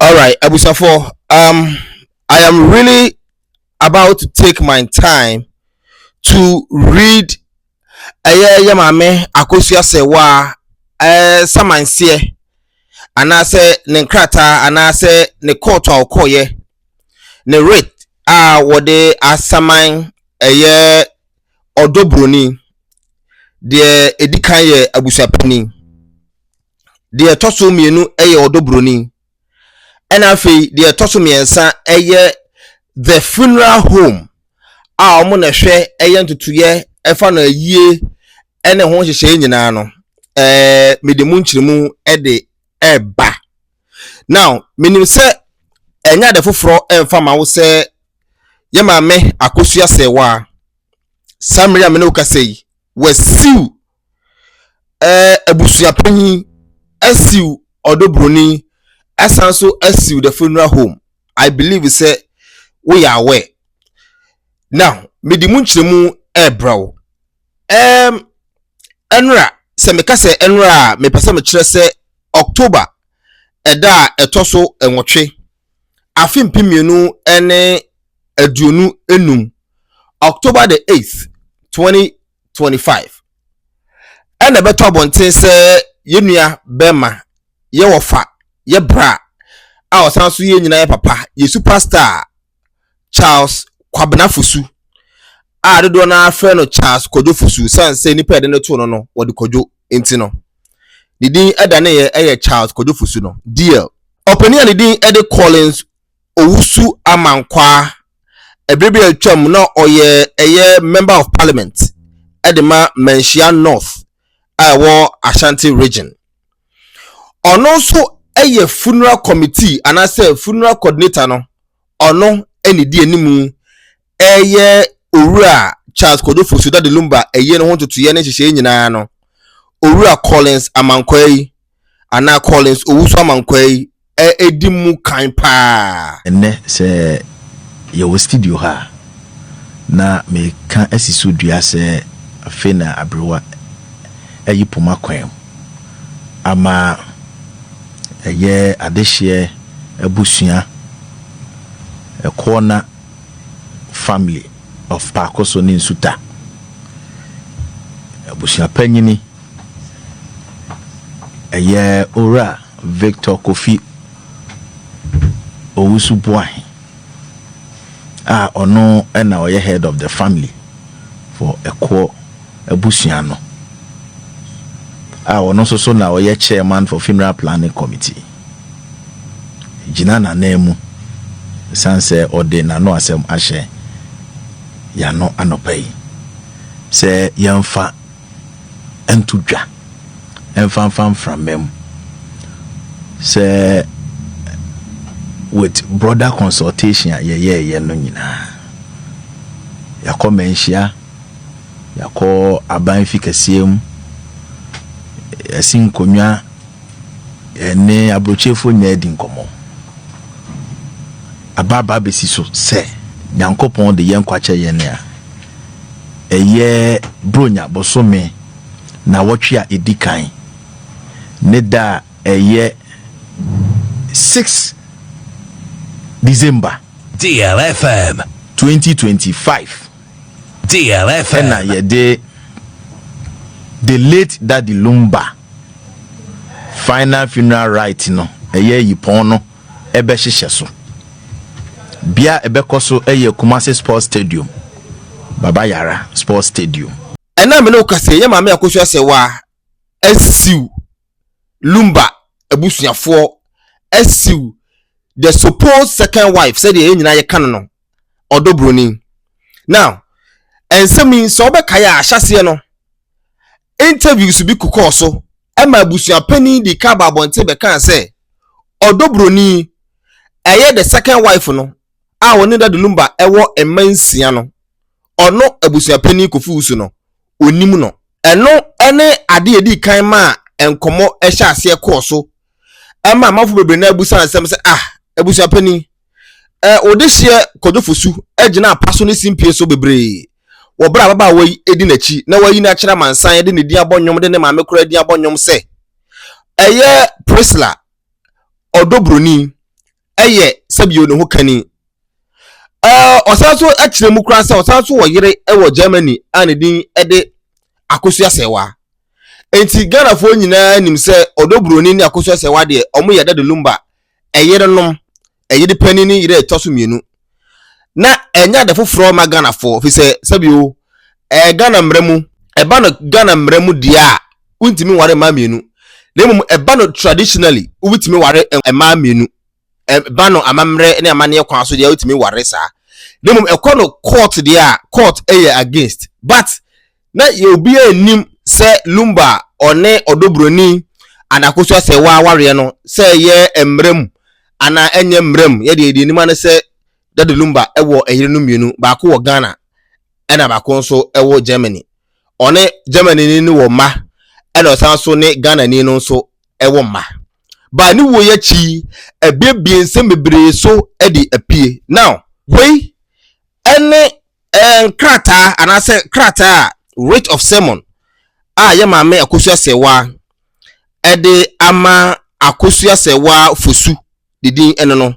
Alright abusuafoɔ um, I am really about to take my time to read ɛyɛ yɛ maame akosua sɛwa ɛɛ samanseɛ anaasɛ ne nkrataa anaasɛ ne kɔɔto a ɔkɔɔyɛ ne writ a wɔde asaman ɛyɛ ɔdɔ buroni deɛ ɛdi kan yɛ abusuapanin deɛ ɛtɔ so mmienu yɛ ɔdɔ buroni ɛna afei deɛ ɛtɔ so mmiɛnsa yɛ the funeral home a wɔn na ɛhwɛ ɛyɛ ntutuiɛ ɛfa no ayie ɛne ho nhyehyɛe nyinaa no ɛɛ mede mu nkyerɛmu ɛde ɛɛba now menim sɛ ɛnyɛ ade foforɔ ɛnfa ma wo sɛ yɛ maame akosua sɛ waa saa mmiri a mene wo kasa yi wasiw ɛɛ abusua panyin asiw ɔdɔ buroni asan so asiw the funeral home i believe sɛ woyɛ aware now mede mu nkyerɛmu ɛɛbrɛ wo ɛɛm ɛnora sɛ meka sɛ ɛnora a mepɛ sɛ mekyerɛ sɛ october ɛda a ɛtɔ so nwɔtwe afe mpem mmienu ne aduonu enum october the eighth twenty twenty five ɛna ɛbɛtɔ abɔnten sɛ yɛn nua bɛrima yɛ wɔfa yɛ bra a ɔsan so yɛ nyinaa yɛ papa yɛ superstar charles kwabena fosu a dodoɔ no afrɛ no charles kwadwo fosu san sɛ nnipa ɛde no to no no wɔde kwadwo nti no ne din ɛda ne yɛ ɛyɛ charles kwadwo fosu no deal ɔpanin a ne din ɛde collins Owusu-Amankwaa, ɛberɛ bi a atwa mu na ɔyɛ ɛyɛ Member of Parliament de ma Manhyia North a ɛwɔ Ashanti Region. Ɔno nso yɛ Funeral Committee anaasɛ Funeral Coordinator no, ɔno na ɛdi anim ɛreyɛ Owura Charles Kojo Fosu Daddy Lumba ayie no ho ntotoeɛ ne nhyehyɛeɛ nyinaa no, Owura Collins Amankwai anaa Collins Owusu Amankwai di mu kan paa. Ɛnnɛ sɛ yɛwɔ studio ha a, na meka asi so dua sɛ afei na aberewa ayi poma kwan mu ama ɛyɛ adehyeɛ abusua ɛkoɔ na. Family of Paakoso ne Nsuta abusuapanyini ɛyɛ Owura Victor Kofi Owusu-Boahen a ɔno na ɔyɛ Head of the Family for Ɛkoɔ abusua no a ɔno nso so na ɔyɛ chairman for funeral planning committee gyina n'anan mu ɛsiane sɛ ɔde n'ano asɛm ahyɛ yɛano anɔpa yi sɛ yɛmfa nto dwa ɛmfa mfa mframa mu sɛ with broader consultation a yɛyɛɛyɛ no nyinaa yɛakɔ manhyia Yɛakɔ aban fi kɛseɛ mu, yɛasi nkonnwa, yɛne aburokyefoɔ nyinaa adi nkɔmmɔ. Aba aba abɛsi so sɛ Nyankopɔn de yɛn nkwa kyɛ yɛn a, ɛyɛ Buronya bosome nnawɔtwe a ɛdi kan ne da a ɛyɛ 6 December. Dear FM. 2025. ɛna yɛde the late daddy lumba final funeral right no ɛyɛ yipɔn no ɛbɛhyehyɛ so bia ɛbɛkɔ so ɛyɛ kumase sports stadium baba yara sports stadium ɛna mene wokasɛ yɛ maame akosua sɛ waa asiw Lumba abusuafoɔ asiw the supposed second wife sɛdeɛ yɛn nyinaa yɛka no no ɔdɔ buroni. Now, nsɛm yi sɛ wobɛkae a ahyɛaseɛ no interviews bi kokɔɔ so ɛma abusuapanin de ka ba abɔnten bɛkaa sɛ ɔdɔ buroni ɛyɛ the second wife no a wɔne Dade Lumba ɛwɔ mma nsia no ɔno abusuapanin Kofi Wusu no onnim no. Ɛno ne ade a edii kan maa nkɔmmɔ hyɛɛ aseɛ kɔɔ so ma amanfo bebree no ara bisaa nsɛm sɛ, Ah, abusua panin, eh, wo dehyeɛ Kojo Fosu gyina apa so ne simpie so bebree wɔ bere a ababaawa yi di n'akyi na wayi no akyerɛ amansan de ne din abɔ nnwom de ne maame koraa din abɔ nnwom sɛ ɛyɛ Priscilla Ɔdɔbroni yɛ sɛbio ne ho kani. Ɛɛ ɔsan so kyerɛ mu koraa sɛ ɔsan so wɔ yere wɔ Germany a ne din de Akosua Sɛwa. Enti Ghanafoɔ nyinaa nim sɛ ɔdɔ buroni ne Akosua Sɛwa deɛ wɔyɛ dade lumba, ɛyerenom, ɛyere panin ne yere a ɛtɔ so mmienu. na ɛnyɛ ade foforɔ ma Ghanafoɔ fi sɛ sɛbio ɛyɛ Ghana mmara mu ɛba no Ghana mmara mu deɛ a wontumi nware mmaa mmienu na mmom ɛba no traditionally wobɛtumi ware mmaa mmienu ɛba no amammerɛ ne amanneɛ kwan so deɛ wotumi ware saa na mmom ɛkɔ no court deɛ a court ɛyɛ against but Na obiara nnim sɛ Lumba a ɔne ɔdɔbroni Anakosu Asɛwaa wareɛ no, sɛ ɛyɛ mmara mu anaa ɛnyɛ mmara mu, yɛdeɛ yɛde anim ara ne sɛ Daddy Lumba wɔ ɛyerenom mmienu, baako wɔ Ghana ɛna baako nso wɔ Germany. Ɔne Germany-ni no wɔ mma ɛna ɔsan nso ne Ghana-ni no nso wɔ mma. Ba ne wuo yi akyi yi, abuebue nsɛm bebree so de apue. Now, wei ɛne Nkrataa anaasɛ krataa a Writ of Sermon a yɛ Maame Akosua Serwaa ɛde ama Akosua Serwaa Fosu ne din ɛne no.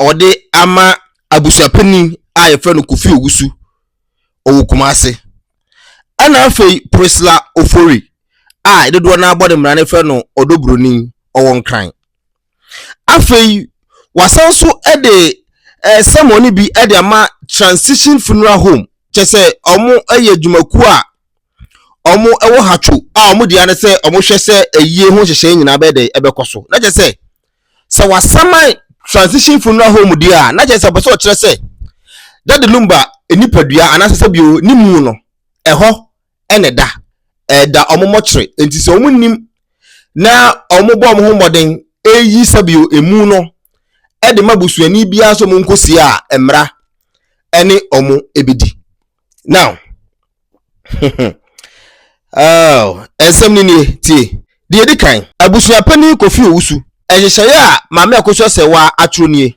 Ɔde ama abusuapanin a yɛfrɛ no Kofi Owusu, ɔwɔ Kumase. Ɛna afei Prisla Ofori a dodoɔ no abɔ ne mmara no frɛ no Ɔdɔ Buroni, ɔwɔ Nkran. Afei wɔasan nso de eh, sermon bi de ama Transition Funeral Home, kyɛ sɛ wɔyɛ adwumakuo a wɔwɔ hatwo a wɔn deɛ ne sɛ wɔhwɛ sɛ ayie ho nhyehyɛe nyinaa bɛyɛ dɛ ɛbɛkɔ so. Na kyɛ sɛ sɛ wasaman Transition Funeral Home deɛ a, na kyɛ sɛ ɔpɛ sɛ ɔkyerɛ sɛ Dade Lumba nipadua anaasɛ sɛ bio ne mu no ɛhɔ na ɛda. Ɛda wɔn mmɔkyere. Enti sɛ wɔnim na wɔbɔ wɔn ho mmɔden reyi sɛbio emu no de ma busuani biara sɛ wɔnkɔsie a, mmara ne wɔn bɛdi. Now, oh, nsɛm no nie tie. Deɛ ɛdi kan, abusua panin Kofi Owusu, nhyehyɛeɛ a Maame Akosua Sɛwaa atwerɛ nie.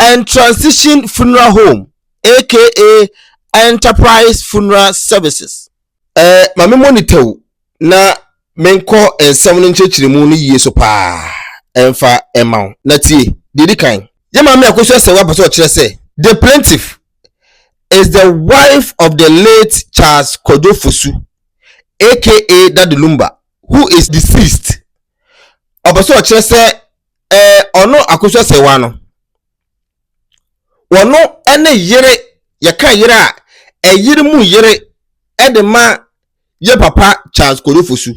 and Transition Funeral Home aka Enterprise Funeral Services. Eh, ma memmɔ ne tau na menkɔ nsɛm no nkyerɛkyerɛmu no yie so paa mfa mma wo. Na tie, deɛ ɛdi kan. Yɛn Maame Akosu Asawu apɛ sɛ ɔkyerɛ sɛ, The plaintiff is the wife of the late Charles Kwadwo Fosu aka Daddy Lumba who is deceased. Ɔpɛ sɛ ɔkyerɛ sɛ Ɛɛ ɔno akosua sɛwa no. Wɔno ne yere yɛka yere a ɛyere mu yere de ma yɛ papa Charles Kodofosu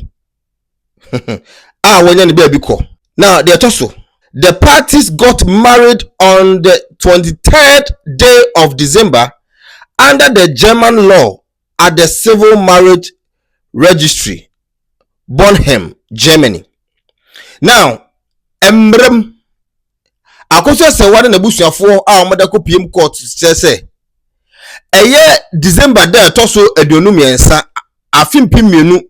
a wɔnya ne baabi kɔ. Na deɛ ɛtɔ so. The parties got married on the 23rd day of December under the German law at the Civil Marriage Registry Bornheim, Germany. Now, mmerɛ mu, Akosua Sɛwa ne n'abusuafoɔ a wɔde akɔ PM court kyerɛ sɛ ɛyɛ December da ɛtɔ so aduonu mmiɛnsa afe mpem mmienu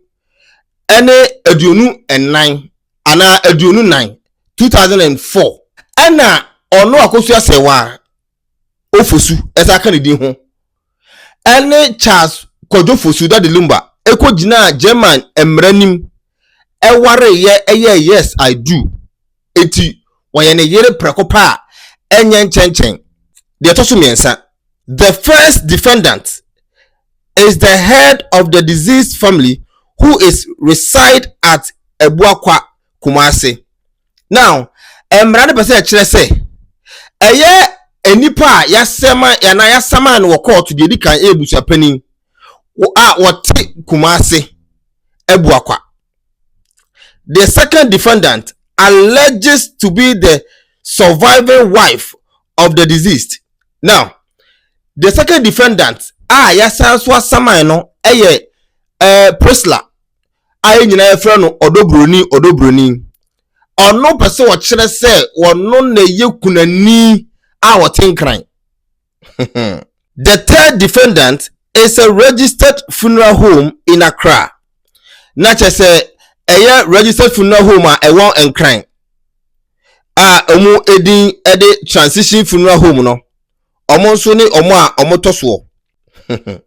ne aduonu nnan anaa aduonu nan 2004 ɛna ɔno Akosua Sɛwa Ofosu ɛsan ka ne din ho ne Charles Kwadwo Fosu Daddy Lumba kɔgyinaa German mmara anim wareeɛ yɛɛ Yes I Do nti wɔyɛ ne yere prɛko pɛ a ɛnyɛ nkyɛnkyɛn. Deɛ ɛtɔ so mmiɛnsa, The first defendant is the head of the deceased family who is reside at Abuakwa, Kumasi. now mmara no pɛ sɛ ɛkyerɛ sɛ ɛyɛ nnipa a yasɛma anaa yasama no wɔ kɔɔto deɛ edi kan ɛyɛ busuapanin a wɔte kumase abu akwa the second defendant alleges to be the surviving wife of the deceased now the second defendant a yasan so asaman no ɛyɛ ɛɛ eh, prisla a yɛn nyinaa yɛfrɛ no ɔdɔburoni ɔdɔburoni ɔno pɛ sɛ ɔkyerɛ sɛ ɔno na ɛyɛ kunani a ɔte nkran the third defendant is a registered funeral home in accra na kyerɛ sɛ ɛyɛ registered funeral home a ɛwɔ nkran a wɔn edin de transition funeral home no wɔn nso ne wɔn a wɔtɔ soɔ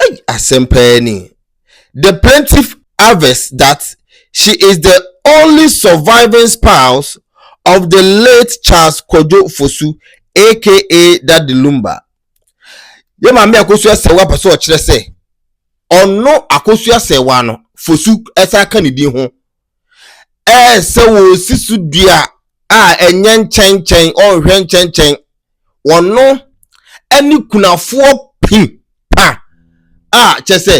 Ei, asɛm paa ni. The plaintiff avers that she is the only surviving spouse of the late Charles Kwadwo Fosu aka Daddy Lumba. Yɛ maame Akosu Asɛwa pɛ sɛ ɔkyerɛ sɛ ɔno Akosu Asɛwa no Fosu san ka ne din ho Ɛsɛ wɔsi so dua a ɛnyɛ nkyɛnkyɛn, ɔnhwɛ nkyɛnkyɛn. Wɔno ne kunafoɔ pi pa a kyɛ sɛ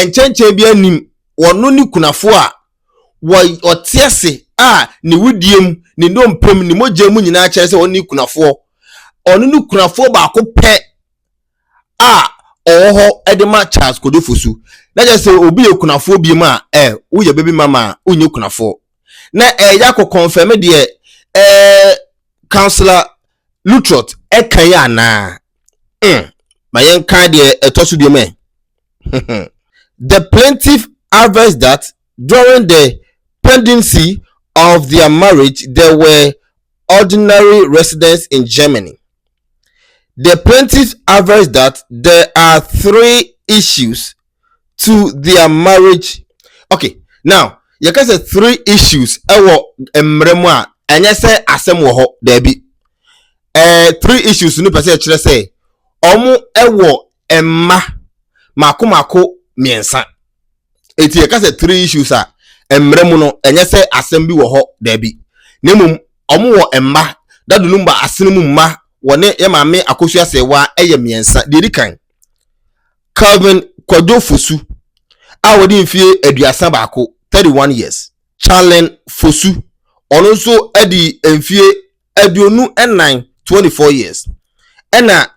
nkyɛnkyɛn bi anim. Wɔno ne kunafoɔ a ɔte ase a ne wedeɛ mu, ne nnompe mu, ne mogya mu nyinaa kyerɛ sɛ ɔno ne kunafoɔ. Ɔno ne kunafoɔ baako pɛ a ɔwɔ hɔ de ma Charles Kodefosu. Na kyerɛ sɛ obi yɛ kunafoɔ bi mu a, eh, woyɛ baby mama a, wonyɛ kunafoɔ. Na ɛyɛ akɔ confirm deɛ eh, Councillor Lutrot ɛka yi anaa. Mm, ma yɛnka deɛ ɛtɔ so biom ɛ. The plaintiff aversed that During the pendency of their marriage there were ordinary residents in Germany. The plaintiff averred that there are three issues to their marriage. Okay, now yɛka sɛ three issues ɛwɔ mmerɛ mu a ɛnyɛ sɛ asɛm wɔ hɔ daabi. Ɛɛ three issues no pɛ sɛ ɛkyerɛ sɛ wɔn ɛwɔ mma mako mako mmiɛnsa eti yɛka sɛ three issues a mmerɛ mu no ɛnyɛ sɛ asɛm bi wɔ hɔ daabi na mmom wɔn wɔ mma dadonum ba asene mu mma wɔne yɛ maame akosua sɛwa ɛyɛ mmiɛnsa deɛ di kan Calvin Kwadwo Fosu a wɔde mfie aduasa baako thirty one years Charlene Fosu ɔno nso adi mfie aduonu nnan twenty four years ɛna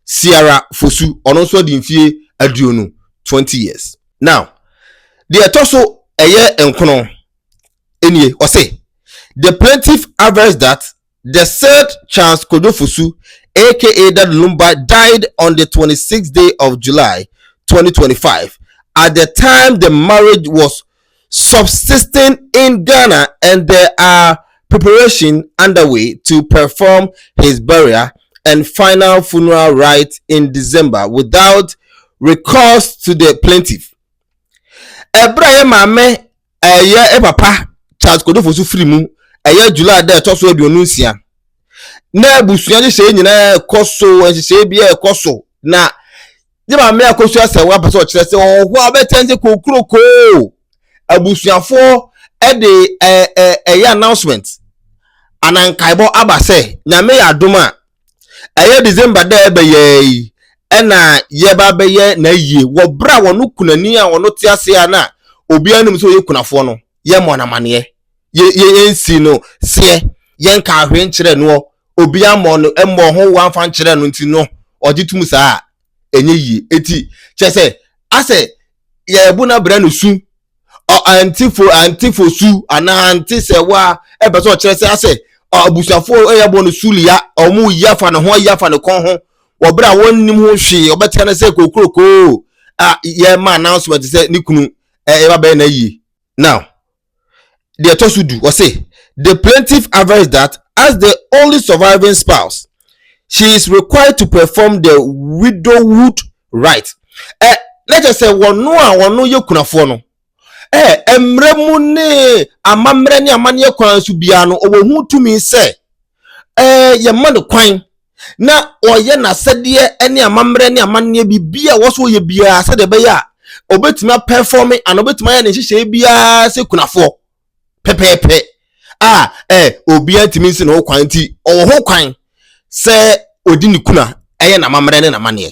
Ciara Fosu, ɔno nso adi mfeɛ aduonu, 20 years. Now, deɛ ɛtɔ so ɛyɛ nkono nie, ɔse, The plaintiff avers that the said Charles Kojo Fosu aka Daddy Lumba died on the 26th day of July, 2025 at the time the marriage was subsisting in Ghana and there are preparation underway to perform his burial and final funeral rites in December without recourse to the plaintiff. Ɛberɛ a yɛ maame ɛyɛ eh, papa Charles Kodofo so firi mu ɛyɛ eh, July dɛ ɛtɔ so aduonu nsia na abusua nhyehyɛe nyinaa ɛkɔ so nhyehyɛe bi ɛkɔ so na ne maame akosua sɛ wɔn apɛ sɛ ɔkyerɛ sɛ wɔn hɔ a wɔbɛkyɛn sɛ kokurokoo abusuafoɔ de ɛɛ ɛɛ ɛyɛ announcement ana nkaebɔ aba sɛ nyame yɛ adom a ɛyɛ december dɛ ɛbɛyɛ yi ɛna yɛba bɛyɛ na yie wɔ berɛ a wɔn kunani a wɔn te ase a na obiara nim sɛ ɔyɛ kunafoɔ no yɛmmɔ no amaneɛ, yɛ yɛ yɛnsi no seɛ, yɛnka ahwee nkyerɛ noɔ, obi ammɔ no mmɔ ho wo amfa nkyerɛ no nti no ɔgye tom saa a, ɛnyɛ yie. Eti kyerɛ sɛ asɛ yɛbu no abrɛ no su, ɔ antifo antifo su anaa ante sɛ wa ɛbɛ sɛ ɔkyerɛ sɛ asɛ abusuafoɔ ɛyɛ bɔ no su lia, ɔmo yi afa ne ho ayi afa ne kɔn ho, wɔ berɛ a wɔnnim ho hwee, ɔbɛteɛ no sɛ kokurokoo a yɛma announcement sɛ ne kunu eh, ɛba bɛyɛ na yie. Now, deɛ ɛtɔ so du, ɔse, the plaintiff avers that as the only surviving spouse, she is required to perform the widowhood right. Ɛ na kyerɛ sɛ wɔn a wɔn yɛ kunafoɔ no, ɛ mmerɛ mu ne amammerɛ ne amanneɛ kwan so biara no, ɔwɔ ho tumi sɛ, ɛ yɛma no kwan na ɔyɛ n'asɛdeɛ ne amammerɛ ne amanneɛ biribi a wɔso yɛ biara sɛdeɛ ɛbɛyɛ a ɔbɛtumi apɛfɔme anaa ɔbɛtumi ayɛ ne nhyehyɛe biara sɛ kunafoɔ pɛpɛɛpɛ a ɛ obiara ntumi nsi ne ho kwan nti ɔwɔ ho kwan sɛ ɔdi ne kuna ɛyɛ n'amammerɛ ne n'amanneɛ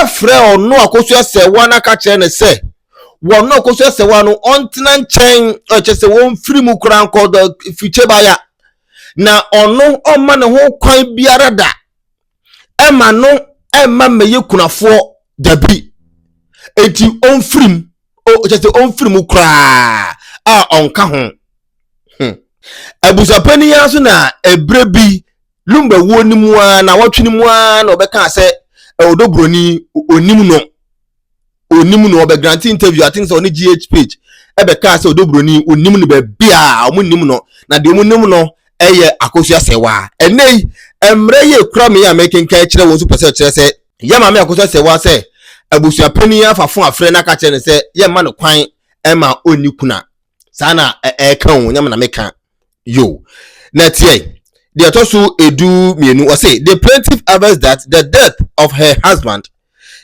afrɛ ɔno a kosua sɛwa no aka kyerɛ no sɛ wɔn a kosua sɛwa no ɔntena nkyɛn ɛkyɛ sɛ wɔmfiri mu koraa nkɔ dɔ fikyɛ baya na ɔno ɔma ne ho kwan biara da ɛma no ɛma mmɛyɛ kunafoɔ dabi eti ɔmfiri mu ɛkyɛ sɛ ɔmfiri mu koraa a ɔnka ho hmm. abusuapanin ara so na ɛberɛ bi Lumba wuo no mu ara nawɔtwe no mu ara na ɔbɛkaa sɛ ɔdɔ buroni onim no onim no ɔbɛ grante interview i think sɛ ɔne gh page ɛbɛkaa sɛ ɔdɔ buroni onim no baabi a ɔmo nim no na deɛ ɔmo nim no ɛyɛ akosua sɛwa ɛnɛ yi mmerɛ yɛ kura me yɛ a mɛkenkan kyerɛ wɔn nso pɛ sɛ ɔkyerɛ sɛ yɛ maame akosua sɛwa sɛ abusua panyin afafo afrɛ no aka kyerɛ no sɛ yɛ mma no kwan ɛma ɔnni kuna saa na ɛɛka o nyɛ me na meka Yo. Na tiɛ, deɛ ɛtɔ so edu mmienu, ɔse the plaintiff avers that the death of her husband,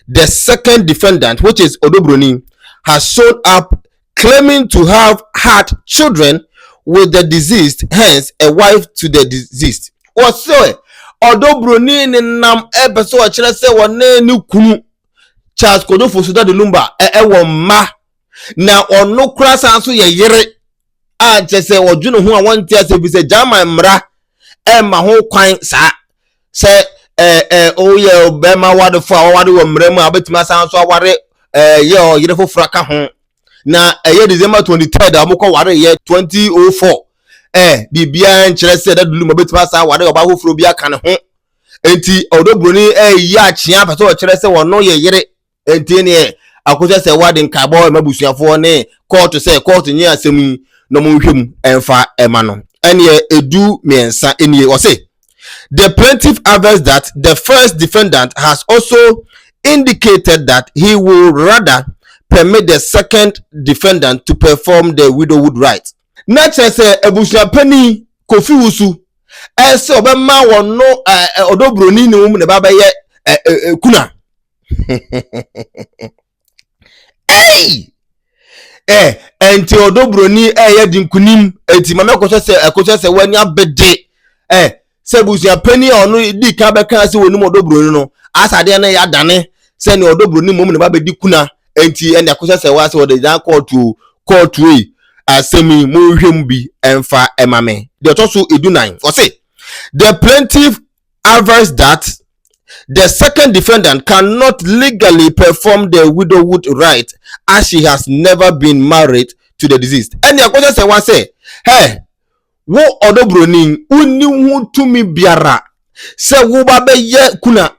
the second defendant which is Odobroni, has shown up claiming to have had children with the deceased, hence a wife to the deceased. Wɔsɛ Odobroni nenam ɛpɛ sɛ ɔkyerɛ sɛ wɔne ne kunu Charles Kodofo Sudade Lumba ɛwɔ mma na ɔno koraa san nso yɛ yere a nkyɛ sɛ ɔdwene ho a wɔnte ase bi sɛ german mmara ɛmma ho kwan saa sɛ ɛɛ ɛɛ ɔyɛ bɛrima awarefo a ɔware wɔ mmara mu a ɔbɛtumi asan so aware ɛɛ yɛ ɔyere foforɔ ka ho na ɛyɛ december twenty third a wɔkɔ ware yɛ twenty oh four ɛɛ biribiara nkyerɛ sɛ ɛda dulu mu ɔbɛtumi asan aware ɔbaa foforɔ bi aka ne ho nti ɔdɔ buroni ɛɛyi akyea pɛ sɛ ɔkyerɛ sɛ wɔn yɛ yere. ɛntie neɛ akɔhyɛ sɛ wade nkaebɔ ɛma busuafoɔ ne kɔɔto sɛ kɔɔto nye asɛm yi na ɔmo nhwɛ mu ɛmfa ɛma no ɛneɛ ɛdu mmiɛnsa nie ɔse the plaintiff avers that the first defendant has also indicated that he will rather permit the second defendant to perform the widowhood right na kyerɛ sɛ abusua panin kofi wusu ɛsɛ ɔbɛma wɔn no ɔdɔ buroni ne wɔn na ɛba bɛyɛ kuna. ei eh, ɛnti ɔdɔ buroni ɛyɛ di nkunim ɛnti ma mɛkɔhyɛ sɛ ɛkɔhyɛ sɛ w'ani abɛde eh sɛ abusua panyin a ɔno di kan bɛka sɛ wɔnim ɔdɔ buroni no asa adeɛ no yɛ adane sɛ ne ɔdɔ buroni mmom na ba bɛdi kuna ɛnti ɛne ɛkɔhyɛ sɛ wɔasɛ wɔde dan kɔɔto kɔɔto yi asɛm yi monhwɛ mu bi ɛmfa ɛma me deɛ ɔtɔ so edunan ɔse the plaintiff averts that the second defendant cannot legally perform the widowhood rite as she has never been married to the deceased. Ɛne ɛkɔsɛ sɛ wa sɛ, hɛ, wo ɔdɔ buroni, wonni ho tumi biara sɛ wo ba bɛyɛ kuna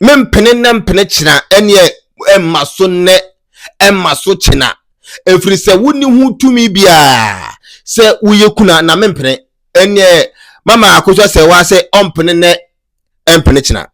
mempene nnɛ mpene kyena ɛneɛ ɛmma so nnɛ ɛmma so kyena ɛfiri sɛ wonni ho tumi biara sɛ woyɛ kuna na mempene ɛneɛ mama akosua sɛ waa sɛ ɔmpene nɛ ɛmpene kyena.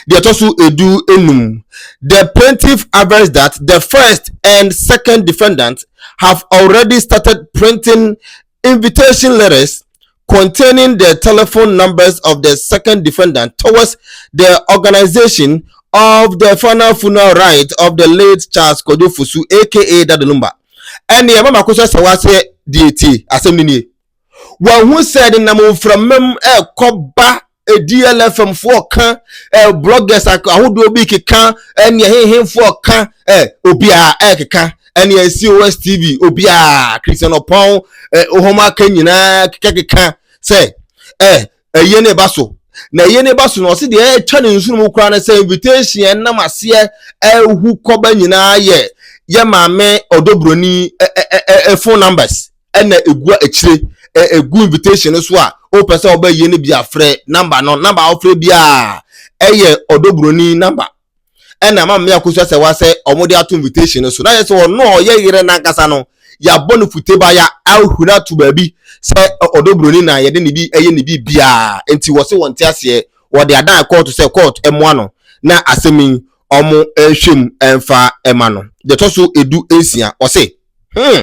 Deɛ ɛtɔ so edu enum, the plaintiff avers that the first and second defendant have already started printing invitation letters containing the telephone numbers of the second defendant towards the organization of the final funeral rite of the late Charles Kojo Fusu aka Dadanumba. Ɛneɛ mama akosua sɛ waa sɛ deɛ tie asɛm no nie. wɔahu sɛ nenam mframa mu ɛrekɔ ba DLFM foɔ ka eh, bloggers ahodoɔ bi keka ɛne eh, ɛhehenfoɔ ka eh, obiara ɛrekeka ɛne COS TV obiara Christian Ɔpɔn eh, ɔhɔm aka nyinaa kekakeka sɛ eh, Ɛyɛ ne ba so. Na ɛyɛ ne ba so no, ɔse deɛ ɛtwa ne nsono mu koraa no sɛ invitation ɛnam aseɛ ɛhu kɔba nyinaa yɛ yɛ maame ɔdɔ buroni ɛ phone numbers ɛna ɛgu akyire ɛgu invitation no so a wopɛ sɛ ɔbɛ yie no bi afrɛ number no number a wofrɛ biara ɛyɛ ɔdɔ buroni number ɛna ama mmea kosua sɛ wasɛ wɔn de ato invitation no so na yɛ sɛ ɔno a ɔyɛ yere nankasa no yɛabɔ no futeba ya ahuri ato baabi sɛ ɔdɔ buroni na yɛde ne bi ɛyɛ ne bi biara nti wɔse wɔn te aseɛ wɔde adan kɔɔto sɛ kɔɔto ɛmoa no na asɛm yi wɔn ɛnhwɛ mu ɛnfa ɛma no deɛ ɛtɔ so edu nsia ɔse hmm.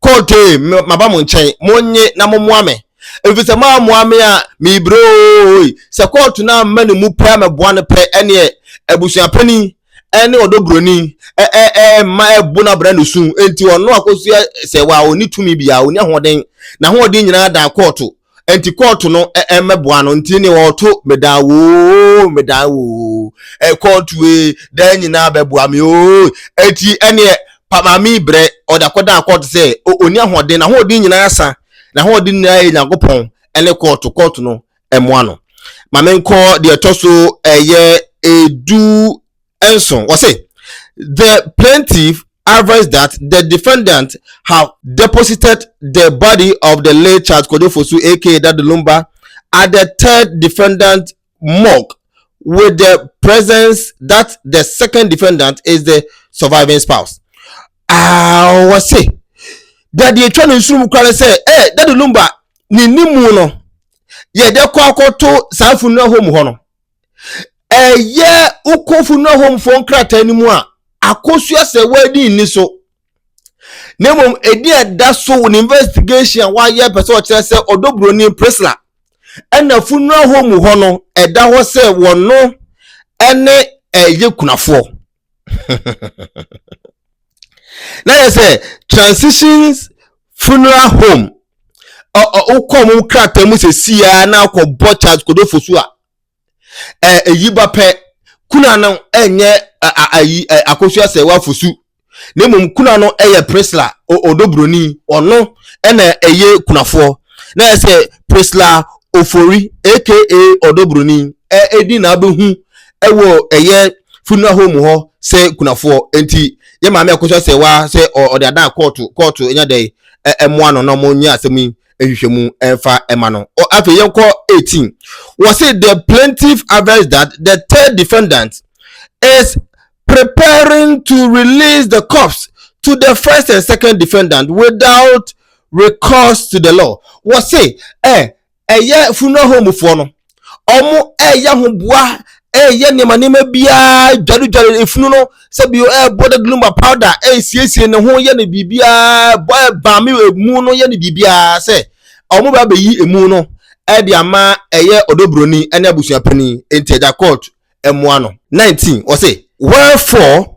Kotee maba mo nkyɛn, monnye na mommoa me, ɛfiri sɛ moammoa me a, merebrɛ oo. Sɛ kɔɔto no amma ne mu pɛ ammɛboa no pɛ, ɛnneɛ abusuapanin ne ɔdɔ buroni mma ɛbo no abra ne su. Enti ɔno akɔsua sɛ waa ɔnni tumi biara, ɔnni ahoɔden, n'ahoɔden nyinaa daa kɔɔto. nti kɔɔto no mmɛboa no nti ne ɔto medan woo medan woo kɔɔto ee dan nyinaa bɛboa me oo nti ɛneɛ pamaame brɛ ɔde akɔdan kɔɔto sɛ ɔni ahoɔden n'ahoɔden nyinaa sa n'ahoɔden nyinaa yɛ nyankopɔn ɛne kɔɔto kɔɔto no ɛmoa no maame nkɔ deɛ ɛtɔ so ɛyɛ edu nson, wɔse the plaintiff advise that the defendant have deposited the body of the late Charles Kojo Fosu aka Daddy Lumba at the third defendant morgue with the presence that the second defendant is the surviving spouse. Ah, wɔse dade atwa no nsurum kora no sɛ eh, Daddy Lumba ne ne mu no yɛde kɔ akɔto saa fununa hɔ mu hɔ no ɛyɛ wokɔfo no ahomfoɔ nkrataa no mu a akosua sɛ wɔadi nni so na mmom ɛdi ɛda so wɔ ne investigation a wayɛ pɛ sɛ ɔkyerɛ sɛ ɔdɔ buroni prisla ɛna funu ahɔ mu hɔ no ɛda hɔ sɛ wɔno ɛne ɛyɛ kunafoɔ na yɛ sɛ transitions funeral home wokɔ mu krataa mu sɛ siaa na akɔbɔ charles kodofo so a ɛyi ba pɛ kuna no ɛnyɛ ayi akosua sɛ wafosu na mmom kuna no ɛyɛ prisla ɔdɔ buroni ɔno ɛna ɛyɛ kunafoɔ na yɛ sɛ prisla ofori aka ɔdɔ buroni ɛdi na abɛhu ɛwɔ ɛyɛ funeral home hɔ sɛ kunafoɔ nti yɛ maame ɛko sɛ sɛ waa sɛ ɔde adan kɔɔto kɔɔto ɛnya dɛ ɛmoa no na ɔmo nyɛ asɛm yi ɛhwehwɛ mu ɛfa ɛma no afei yɛn kɔ 18 wɔ se the plaintiff average that the third defendant is preparing to release the corpse to the first and second defendant without recourse to the law wɔ se ɛ. Eh, ɛyɛ funeral home foɔ no ɔmo ɛyɛ ho boa ɛyɛ nneɛma nneɛma biara dwaredware efunu no sɛbi ɛbɔ de gluma powder ɛsiesie ne ho yɛ ne biribiara bɔ ɛbaame emu no yɛ ne biribiara sɛ ɔmo bɛ abɛyi emu no ɛde ama ɛyɛ ɔdɔbroni ɛne abusua panyin nti ɛgya court ɛmoa no. nineteen ɔse wherefore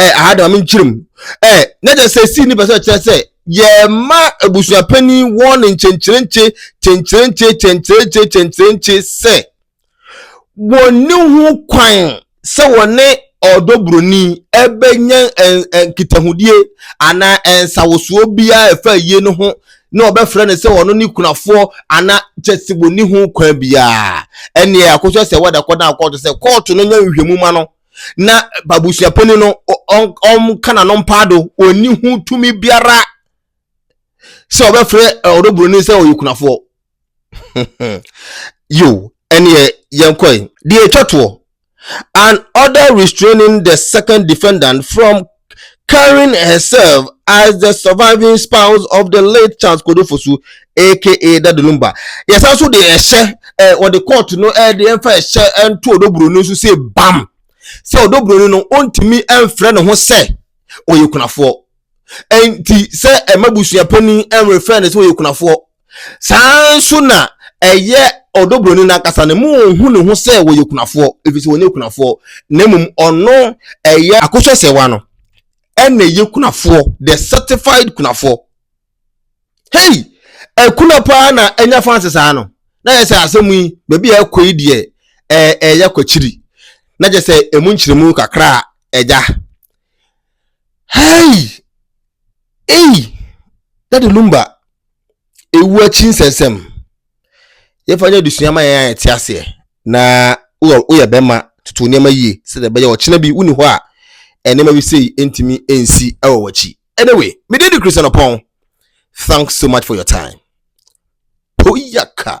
ɛɛ aha de maame nkyerɛ mu ɛɛ na kyerɛ sɛ sii ne pɛ sɛ kyerɛ sɛ yɛma abusuapanin wɔn ne nkyenkyerenkye kyenkyerenkye kyenkyerenkye kyenkyerenkye sɛ wɔnni ho kwan sɛ wɔne ɔdɔ buroni ɛbɛnya nkitahodie anaa nsawosoɔ biara ɛfa yie no ho na ɔbɛfrɛ no sɛ ɔno ne kunafoɔ ana kyɛ sɛ wɔni ho kwan biara ɛneɛ akɔsɛ sɛ wɔda kɔ na akɔɔto sɛ kɔɔto no nya nhwɛmu ma no na babusuapani no ɔnka n'ano mpaa do ɔnni ho tumi biara sɛ ɔbɛfrɛ ɔdɔburoni sɛ ɔyɛ kunafoɔ yo ɛneɛ yɛnkɔe deɛ ɛtwa toɔ an order restraining the second defendant from carrying herself as the surviving spouse of the late Charles Kodo Fosu aka Daddy Lumba yɛsan so de ɛhyɛ ɛ wɔde court no ɛde ɛmfa ɛhyɛ ɛnto ɔdɔburoni nso sɛ bam sɛ ɔdɔburoni no ɔntumi ɛmfrɛ ne ho sɛ ɔyɛ kunafoɔ ɛnti sɛ ɛma busuapanin ɛmrefrɛ ne sɛ ɔyɛ kunafoɔ saa ara nso na ɛyɛ ɔdɔbroni no ankasa no mu ɔhu ne ho sɛ wɔyɛ kunafoɔ ɛfiri sɛ wɔnyɛ kunafoɔ na mmom ɔno ɛyɛ akosua sɛwa no ɛna ɛyɛ kunafoɔ the certified kunafoɔ hei ɛkuna paa na ɛnya fanse saa no na yɛ sɛ asɛm yi baabi a ɛkɔ yi deɛ ɛyɛ kwakyiri na kyɛ sɛ ɛmu nkyerɛmu kakra a ɛgya hei ei dade lumba Ewu akyi nsɛnsɛm. Yɛmfa nyɛ adesua ma yɛn a yɛte aseɛ na woyɛ woyɛ bɛrima toto nneɛma yie sɛdeɛ ɛbɛyɛ ɔkyena bi wonni hɔ a nneɛma bi sei ntumi nsi wɔ w'akyi. Anyway, mede di Christian Ɔpɔn. Thanks so much for your time. Poyaka.